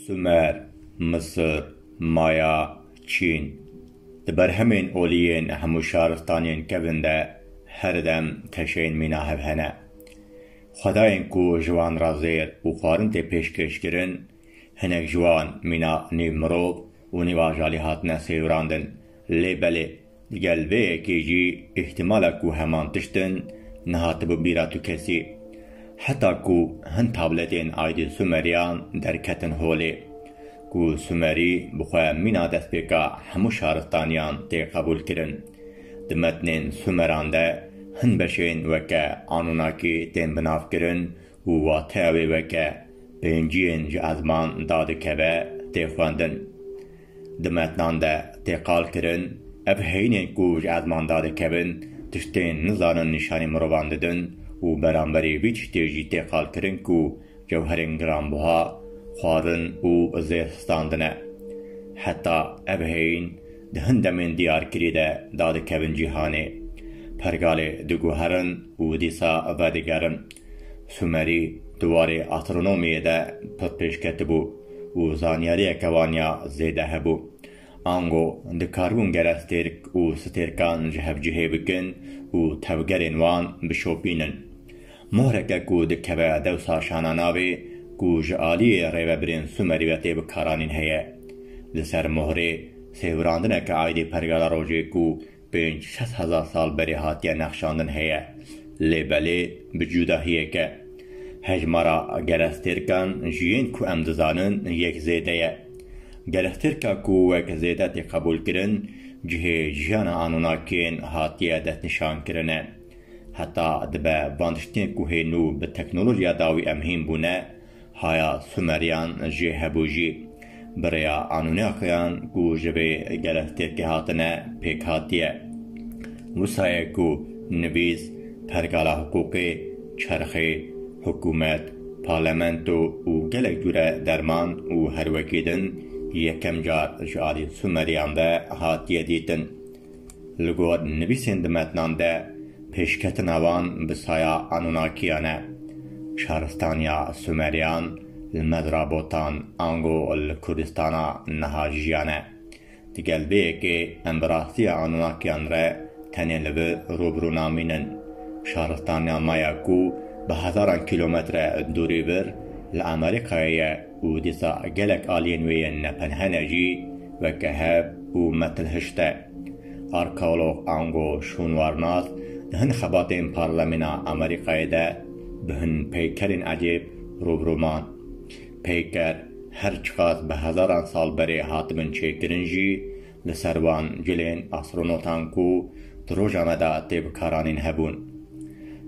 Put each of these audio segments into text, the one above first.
Sumer, Misir, Maya, Çîn di berhemên olî yên hemû şaristanên kevin de her dem teşeyên mîna hev hene. Xwedayên ku ji wan re zêr û xwarin tê pêşkêşkirin, Hinek ji wan mîna nîv mirov û nîv ajalî hatine sêwirandin. Lê belê di gel vê yekê jî îhtimala ku heman tişt in nehatibo bîra tu kesî. Heta ku hin tabletên Aydin Sumerîyan derketin holê. Ku Sumerî bi xwe mîna destpêka hemû şaristaniyan tê qebûl kirin. Di metnên Sumeran de hin beşên weke Anunaki tên binavkirin û wateya wê weke pênciyên ji ezman da dikeve tê xwendin. Di metnan de tê qal kirin ev heyînên ku ji ezman da dikevin tiştên nizanin nîşanî mirovan didin û beramberî vî tiştê jî tê qal kirin ku cewherên giranbuha xwazin û zêr histandin e. Heta ev heyîn di hin demên diyarkirî de da dikevin cîhanê. Pergalê diguherin û dîsa vedigerin. Sumerî di warê astronomiyê de pir pêş ketibû û zanyariyeke wan ya zêde hebû. Ango dikaribûn gerestêrk û stêrkan ji hev cihê bikin û tevgerên wan bişopînin. Mohreke ku dikeve dewsa şana navê ku ji aliyê rêvebirên Sumerî ve tê bikaranîn heye. Li ser mohrê sêwirandineke aydê pergala rojê ku Pênc sed hezar sal berê hatiye nexşandin heye, lê belê bi cudahiyeke. Hejmara gerestêrkan ji yên ku em dizanin yek zêde ye. Gerestêrka ku wek zêde tê qebûlkirin, cihê jiyana Anunnakiyên hatiye destnîşankirin e. Heta dibe van tiştên ku hê nû bi teknolojiya dawî em hîn bûne, Haya Sumeryan jê hebû jî bi rêya Anunnakiyan ku ji vê gelestêrkê hatine pêk hatiye. Wisa ye ku nivîs, pergala hiqûqê, çerxê, hikûmet, parlamento û gelek cure derman û herwekî din yekem car ji alî Sumeryan ve hatiye dîtin. Li gor nivîsên di metnan de pêşketina wan bi saya Anûnakiyan e. Şaristaniya Sûmeriyan li mezra botan ango li Kurdistana niha jiyane. Digel vê yekê em bi rastiya Anûnakiyan re tenê li vi rû bi rû namînin. Şaristaniya Maya ku bi hezaran kîlometre dûrî vir li Amerîkayê ye, Û dîsa gelek aliyên wê yên nepenhene jî weke hev û metil hişte. Arkeolog ango şûnwarnas di hin xebatên parlemîna Amerîkayê de bi hin peykerên ecêb rû bi rû man. Peyker her çiqas bi hezaran sal berê hatibin çêkirin jî Li ser wan cilên astronotan ku di roja me de tê bikaranîn hebûn.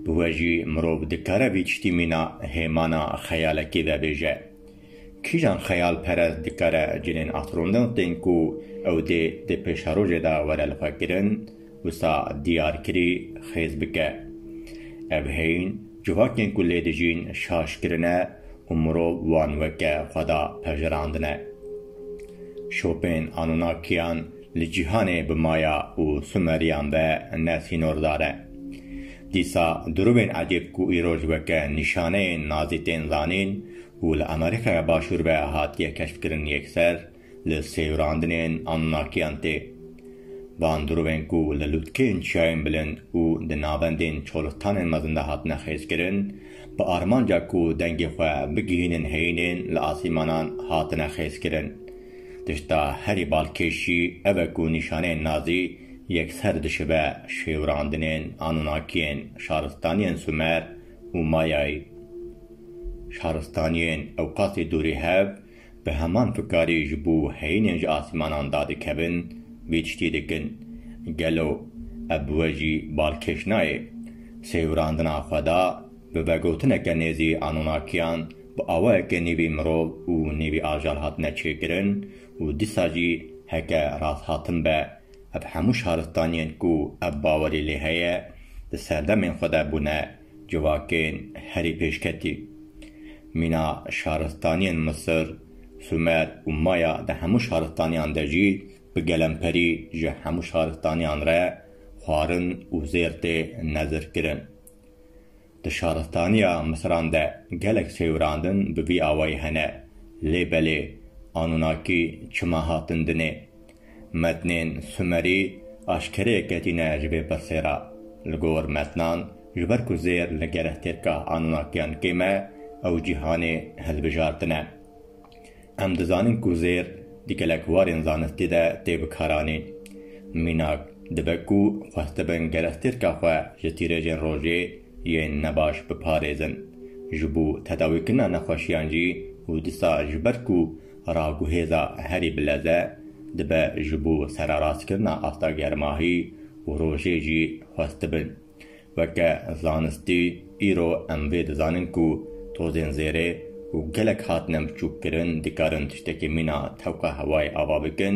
Bi we jî mirov dikare vî tiştî mîna hêmana xeyalekê vebêje. Kîjan xeyalperest dikare cilên astronotên ku ew dê di pêşerojê de were li xwe kirin, Wisa diyarkirî xêz bike. Ev heyîn civakên ku lê dijîn şaş kirine û mirov wan weke xweda pejirandine. Şopên Anunnakiyan li cîhanê bi Maya û Sumeriyan ve ne sînordar e. Dîsa dirûvên ecêb ku îroj weke nîşaneyên nazî tên zanîn û li Amerîkaya Başûr ve hatiye keşfkirin yekser, li seyûrandinên Anunnakiyan tê. Bandurovên ku li lûtkên çiyayên bilind û di navendên çolixtanên mezin de hatine xêzkirin, bi armanca ku dengê xwe bigihînin heyînên li asîmanan hatine xêzkirin. Tişta herî balkêşî ev e ku nîşaneyên nazî yekser dişibe şêûrandinên Anunnakiyên şaristaniyên Sumer û Mayayî. Şaristaniyên ewqasî dûrî hev, Bi heman fikarî ji bo heyînên ji asmanan dadikevin vê tiştê dikin. Gelo ev bi we jî balkêş nayê? Sêwirandina xweda bi vegotineke nêzî Anunnakiyan bi awayeke nêvî mirov û nêvî ajal hatine çêkirin û dîsa jî heke rasthatin be ev hemû şaristaniyên ku ev bawerî lê heye di serdemên xwe de bûne Civakên herî pêşketî, mîna şaristaniyên Misir, Sumer û Maya di hemû şaristaniyan de jî bi gelemperî ji hemû şaristaniyan re xwarin û zêr tê nezirkirin. Di şaristaniya Misiran de gelek sêwirandin bi vî awayî hene, lê belê Anunakî çima hatin dinê, Metnên Sumerî aşkerê ketîne ji vê pirsê re. Li gor metnan, ji ber ku zêr li gerehtêrka Anunnakiyan kêm e, ew cîhanê hilbijartine. Em dizanin ku zêr di gelek warên zanistî de tê bikaranîn. Mînak, dibe ku xwestibin gerehtêrka xwe ji tîrêjên rojê yên nebaş biparêzin. Ji bo tedawîkirina nexweşiyan jî û disa ji ber ku Raguhêza herî bileze dibe ji bo sererast-kirina asta germahî û rojê jî xwestibin. Weke zanistî îro em vê dizanin ku tozên zêrê û gelek hatine biçûkkirin dikarin tiştekî mîna tewqa hewayê ava bikin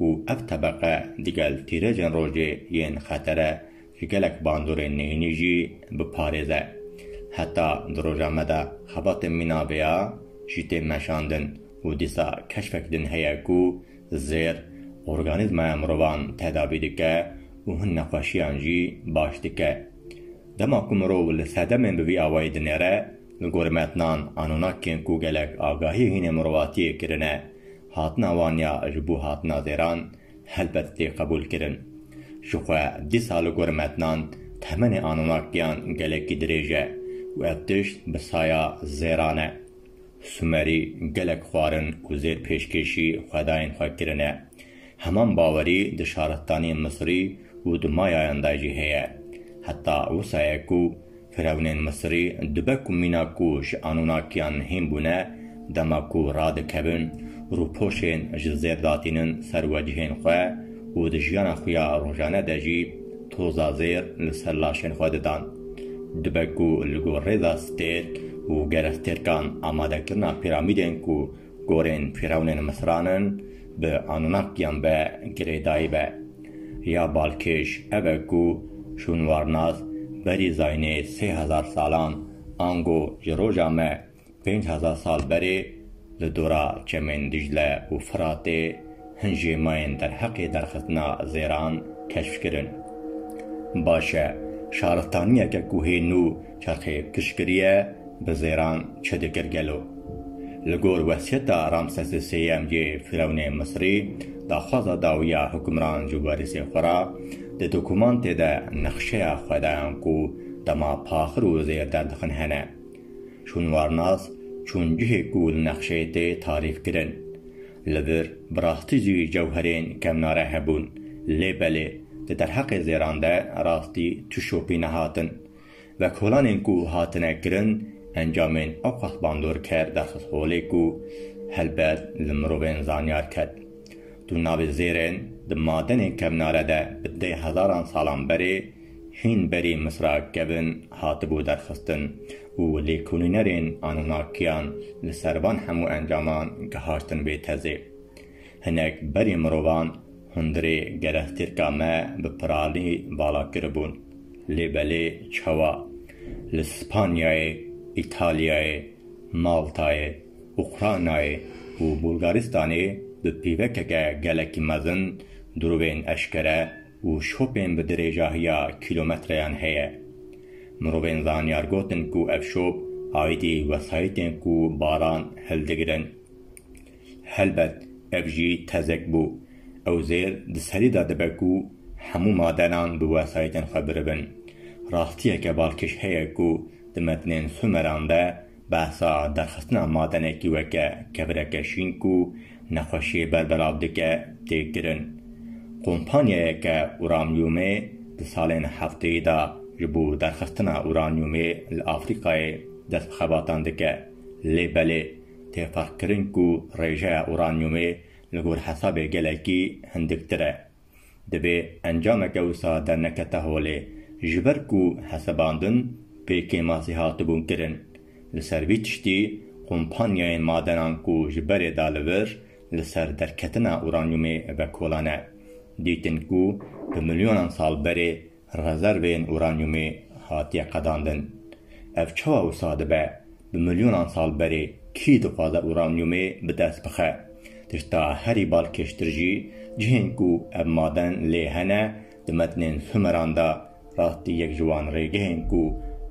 û ev tebeqe digel tîrêjên rojê yên xetere Gelek bandorên neyînî jî biparêze. Heta di roja me de xebatên mîna vê ya jî tên meşandin û dîsa keşfek din heye ku zêr organîzmaya mirovan tedavî dike û hin nexweşiyan jî baş dike. Dema ku mirov li sedemên bi vî awayî dinêre, li gorî metnan Anunnakiyên ku gelek agahiyê hînê mirovatiyê kirine, hatina wan ya ji bo hatina zêran, helbet tê qebûlkirin. Jixwe dîsa li gor metnan temenê Anunnakiyan gelekî dirêj e û ev tişt bi saya zêran e. Sumerî gelek xwarin û zêr pêşkêşî xwedayên xwe kirine. Heman bawerî di şaristaniyên Misirî û di Mayayan de jî heye. Heta wisa ye ku Firewnên Misirî dibe ku mîna ku ji Anûnakiyan hîn bûne, dema ku radikevin, rûpoşên ji zêr datînin ser wecihên xwe û di jiyana xwe ya rojane de jî toza zêr li ser laşên xwe didan. Dibe ku li gor rêza stêrk û gerestêrkan amadekirina pîramîdên ku Gorên fîrewnên Misranin bi Anunnakiyan ve girêdayî be. Ya balkêş ev e ku şûnwarnas berî zaynê sê hezar salan ango ji roja me pênc hezar sal berê li dora çemên Dîcle û Firatê hin jêmayên derheqê derxistina zêran keşf kirin. Baş e, şaristaniyeke ku hê nû Çaxê piştgiriye bi zêran çi dikir gelo? Li gor wesiyeta Ramsesê Sêyem yê Fîrewnê Misirî, daxwaza dawiya hukimran ji werîsên xwe re, di dokumantê de nexşeya xwedayan ku dema paxir û zêr derdixin hene. Şûnwarnas çûn cihê ku li nexşeyê tê tarîf kirin. Li vir bi rastî jî cewherên kevnare hebûn. Lê belê, di derheqê zêran de rastî tu şopî nehatin. Vekolanên ku hatine kirin encamên awqat bandorker derxist holê ku helbet li mirovên zanyar ket. Tu navê zêrên di madenên kevnare de bi deh hezaran salan berê hîn berî Misra kevin hatibû derxistin û lêkolînerên Anunnakiyan li ser van hemû encaman gihaştin vê tezê. Hinek berê mirovan hundirê gerextirka me bi piralî vala kiribûn. Lê belê çawa? Li Spanyayê, Îtalyayê, Maltayê, Ukraynayê û Bulgaristanê bi pîvekeke gelekî mezin durûvên eşkere û şopên bi dirêjahiya kîlometreyan heye. Mirovên zanyar gotin ku ev şop aîdî wesayîtên ku baran hildigirin. Helbet ev jî tezek bû. Ew zêr di serî de dibe ku hemû madenan bi wesayîtên xwe biribin. Rastiyeke balkêş heye ku di metnên Sumeran de behsa derxistina madenekî weke kebireke şîn ku nexweşiyê ber bi lav dike tê kirin. Kompanyayeke uramyûmê di salên hefteyî de ji bo derxistina uranyûmê li Afrîkayê dest bi xebatan dike. Lê belê têfeqkirin ku rêjeya uranyumê li gor hesabê gelekî hindiktir e. Divê encameke wisa dernekete holê, ji ber ku hesebandin pê kêmasî hatibûn kirin. Li ser vî tiştî, kompanyayên madenan ku ji berê da li vir li ser derketina uranyumê vekolane, dîtin ku bi milyonan sal berê Rezervên uranyumê hatiye qedandin. Ev çawa wisa dibe? Bi milyonan sal berê kî dixwaze uranyumê bi dest bixe? Tişta herî balkêştir jî, cihên ku ev maden lê hene di metnên Sumeran de rastî yek ji wan rêgehên ku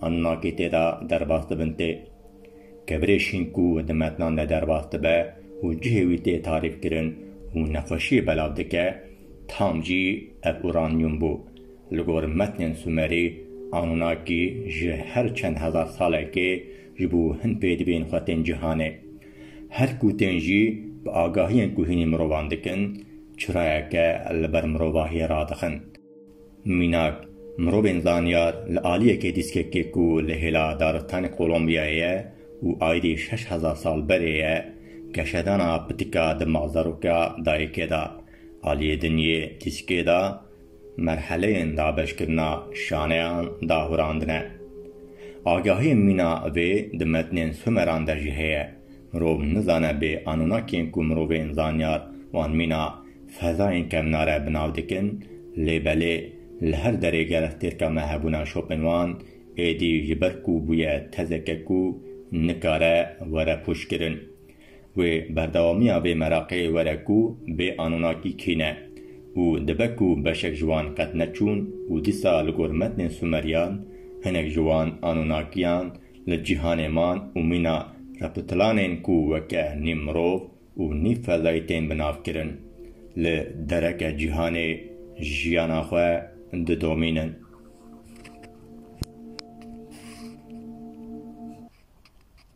Anunnaki tê de derbas dibin tê. Kevirê şîn ku di metnan de derbas dibe û cihê wî tê tarîfkirin û nexweşiyê belav dike, Tam jî ev uranyum bû. Li gor metnên Sumerî, Anunnaki ji her çend hezar salekê ji bo hin pê dibên xwe tên cîhanê. Her ku tên jî bi agahiyên ku hînî mirovan dikin, çirayeke li ber mirovahiyê radixin. Mînak, mirovên zanyar li aliyekê dîskekê ku li hêla daristanê Kolombiyayê ye û aydî şeş hezar sal berê ye, keşedana pitika di malzaroka dayikê de, aliyê dinyê dîskê de merheleyên dabeşkirina şaneyan dahurandine. Agahiyên mîna vê di metnên Sumeran de jî heye. Mirov nizane bê Anunakiyên ku mirovên zanyar wan mîna Fedayên kevnare bi nav dikin, lê belê li her derê gerek têrka me hebûna şopên wan, êdî ji ber ku bûye tezeke ku nikare were pûçkirin. Wê berdewamiya vê meraqê were ku bê anûnakî kî ne û dibe ku beşek ji wan qet neçûn û dîsa li gor metnên Sumeryan hinek ji wan anûnakiyan li cîhanê man û mîna reptilanên ku weke nîm mirov û nîv feldayî tên binavkirin, li dereke cîhanê jiyana xwe didomînin.